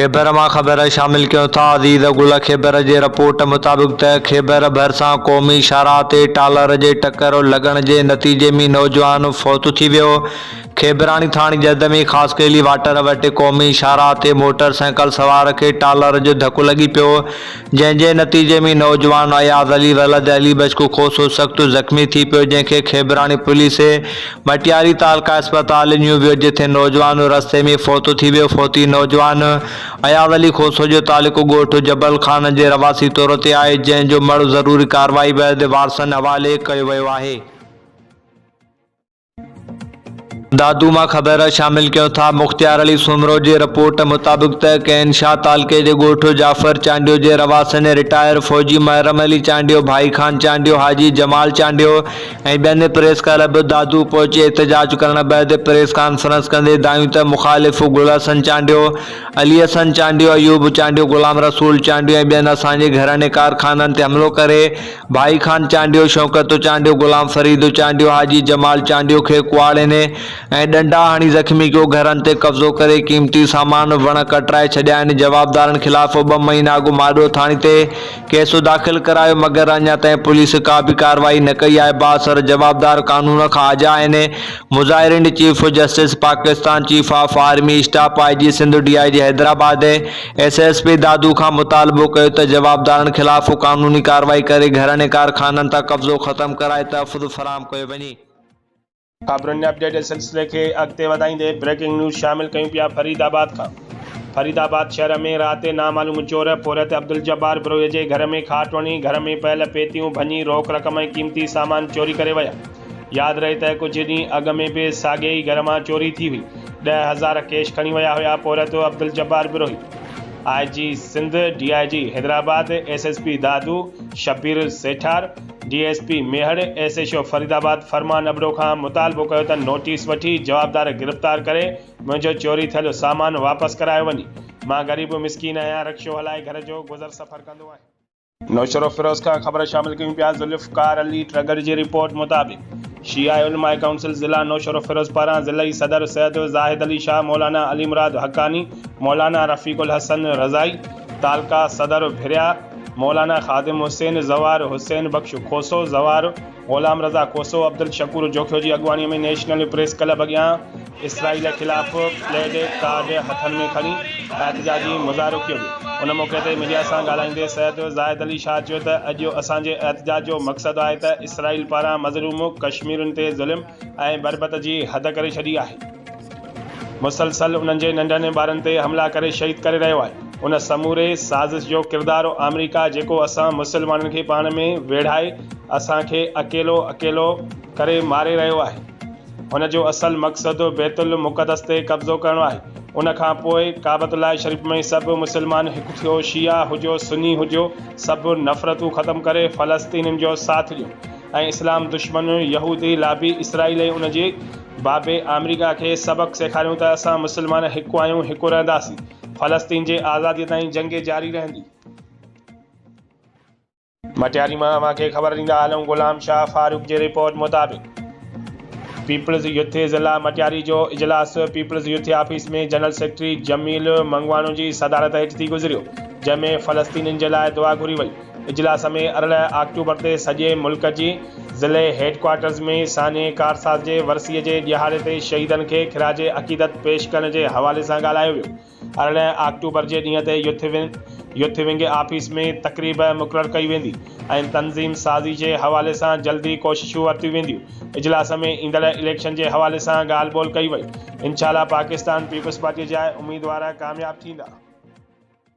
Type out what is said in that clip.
خيبر مان خبر شامل ڪيون ٿا عزيز گل خيبر جي رپورٽ مطابق ته خيبر ڀرسان قومي شاهراهه تي ٽالر جي ٽڪر لڳڻ جي نتيجي ۾ نوجوان فوت ٿي ويو خيبراڻي ٿاڻي جد ۾ خاصخيلي واٽر وٽ قومي شاهراهه تي موٽر سائيڪل سوار کي ٽالر جو ڌڪو لڳي پيو جنهن جي نتيجي ۾ نوجوان اياز علي ولد علي بشڪو کوسو سخت زخمي ٿي پيو جنهن کي کيبراڻي پوليس مٽياري تعلقه اسپتال اڃيو ويو جتي نوجوان رستي ۾ فوت ٿي ويو فوتي نوجوان اياز علي کوسو جو تعلقو ڳوٺ جبل خان جي رهواسي طور تي آهي جنهن جو مڙهه ضروري ڪارروائي بعد وارثن حوالي ڪيو ويو آهي. دادو مان خبر شامل ڪيون ٿا مختيار علي سومرو جي رپورٽ مطابق ته ڪين شاهه تعلقي جي ڳوٺ جعفر چانڊيو جي رهواسين رٽائر فوجي محرم علي چانڊيو ڀائي خان چانڊيو حاجي جمال چانڊيو ۽ ٻين پريس ڪلب دادو پهچي احتجاج ڪرڻ بعد پريس ڪانفرنس ڪندي دانهيون ته مخالف گل حسن چانڊيو علي حسن چانڊيو ايوب چانڊيو غلام رسول چانڊيو ۽ ٻين اسان جي گهرن ۽ ڪارخانن تي حملو ڪري ڀائي خان چانڊيو، شوڪت چانڊيو، غلام فريد چانڊيو، حاجي جمال چانڊيو کي ڪهاڙين ۽ ڏنڊا هڻي زخمي ڪيو، گهرن تي قبضو ڪري قيمتي سامان، وڻ ڪٽرائي ڇڏيا آهن، جوابدارن خلاف ٻه مهينا اڳ ماڏئو ٿاڻي تي ڪيس داخل ڪرايو مگر اڃا تائين پوليس ڪا به ڪارروائي نه ڪئي آهي، بااثر جوابدار قانون کان آجا آهن، مظاهرين chief justice Pakistan, chief of army staff, I G Sindh, D I G Hyderabad ۽ S S P Dadu کان مطالبو ڪيو ته جوابدارن خلاف قانوني ڪارروائي ڪري گهرڻي ڪارخانن تان قبضو ختم ڪرائي تحفظ فراهم ڪيو وڃي. خبرن جي اپڊيٽ جي سلسلي کي اڳتي وڌائيندي بريڪنگ نيوز شامل ڪيون پيا فريد آباد کان فريد آباد شهر ۾ رات نامعلوم چور پورهيت عبدالجبار بروهي جي گهر ۾ کاٽ وڻي گهر ۾ پيل پيتيون ڀڃي روڪ رقم ۽ قيمتي سامان چوري ڪري ويا. ياد رهي ته ڪجهه ڏينهن اڳ ۾ به ساڳئي ئي گهر مان چوري ٿي هئي، ڏهه هزار ڪيش کڻي ويا هيا پورهيتو Abdul Jabbar Brohi, I G Sindh, D I G Hyderabad, S S P Dadu, Shabbir Sethar, D S P Mehar, S H O Faridabad Farman Abro کان مطالبو ڪيو ته نوٽيس وٺي جوابدار گرفتار ڪري منهنجو چوري ٿيل سامان واپس ڪرايو وڃي، مان غريب مسڪين آهيان رڪشو هلائي گهر جو گذر سفر ڪندو آهيان. نوشهروفيروز کان خبر شامل ڪيون پيا ذوالفقار علي ٽرڳڙ جي رپورٽ مطابق شيعه علماء ڪائونسل ضلع نوشهروفيروز پاران ضلعي صدر سيد زاهد علي شاهه مولانا علي مراد حقاني مولانا رفيق الحسن رضائي تعلقه صدر ڀريا مولانا خادم حسين زوار حسين بخش کوسو زوار غلام رضا کوسو عبدالشڪور جوکيو جي اڳواڻي ۾ نيشنل پريس ڪلب اڳيان اسرائيل خلاف پلي ڊي ڪارڊ هٿن ۾ کڻي احتجاجي مظاهرو ڪيو ويو ان موقعي تي ميڊيا سان ڳالهائيندي سيد زاهد علي شاهه چيو ته اڄ جو اسان جي احتجاج جو مقصد آهي ته اسرائيل پاران مظلوم ڪشميرين تي ظلم ۽ بربط جي حد ڪري ڇڏي آهي مسلسل انهن جي ننڍن ۽ ٻارن تي حملا ڪري شهيد ڪري رهيو آهي ان سموري سازش جو ڪردار آمريڪا جيڪو اسان مسلمانن کي پاڻ ۾ ويڙهائي اسان کي اڪيلو اڪيلو ڪري ماري رهيو آهي. هن جو اصل مقصد بيت المقدس تي قبضو ڪرڻو آهي. ان کان پوء ڪعبت الله شريف ۾ سڀ مسلمان هڪ ٿيو، شيعا هجو سني هجو، سڀ نفرتون ختم ڪري فلسطينين جو ساٿ ڏيو ۽ اسلام دشمن يهودي لابي اسرائيل ۽ ان جي بابي آمريڪا کي سبق سيکاريون ته اسان مسلمان هڪ آهيون هڪ رهنداسين فلسطين جي آزادي تائين جنگ جاري رهندي. مٽياري مان اوهان کي خبر ڏيندا هلون غلام شاهه فاروق جي رپورٽ مطابق پيپلز يوٿ ضلع مٽياري جو اجلاس people's youth office ۾ general secretary Jamil Mangwano جي صدارت هيٺ ٿي گذريو جنهن ۾ فلسطينين جي لاء دعا گهري وئي اجلاس ۾ ارڙهن آڪٽوبر تي سڄي ملڪ جي ضلعي هيڊڪوارٽرز ۾ سانحي ڪارساز جي ورسيء جي ڏهاڙي تي شهيدن کي خراج عقيدت پيش ڪرڻ جي حوالي سان ڳالهايو ويو ارڙهن آڪٽوبر جي ڏينهن تي youth wing youth wing office ۾ تقريب مقرر ڪئي ويندي ۽ تنظيم سازي جي حوالي سان جلدي ڪوششون ورتيون وينديون. اجلاس ۾ ايندڙ اليڪشن جي حوالي سان ڳالهه ٻولهه ڪئي وئي. انشاء الله پاڪستان پيپلز پارٽي جا اميدوار ڪامياب ٿيندا.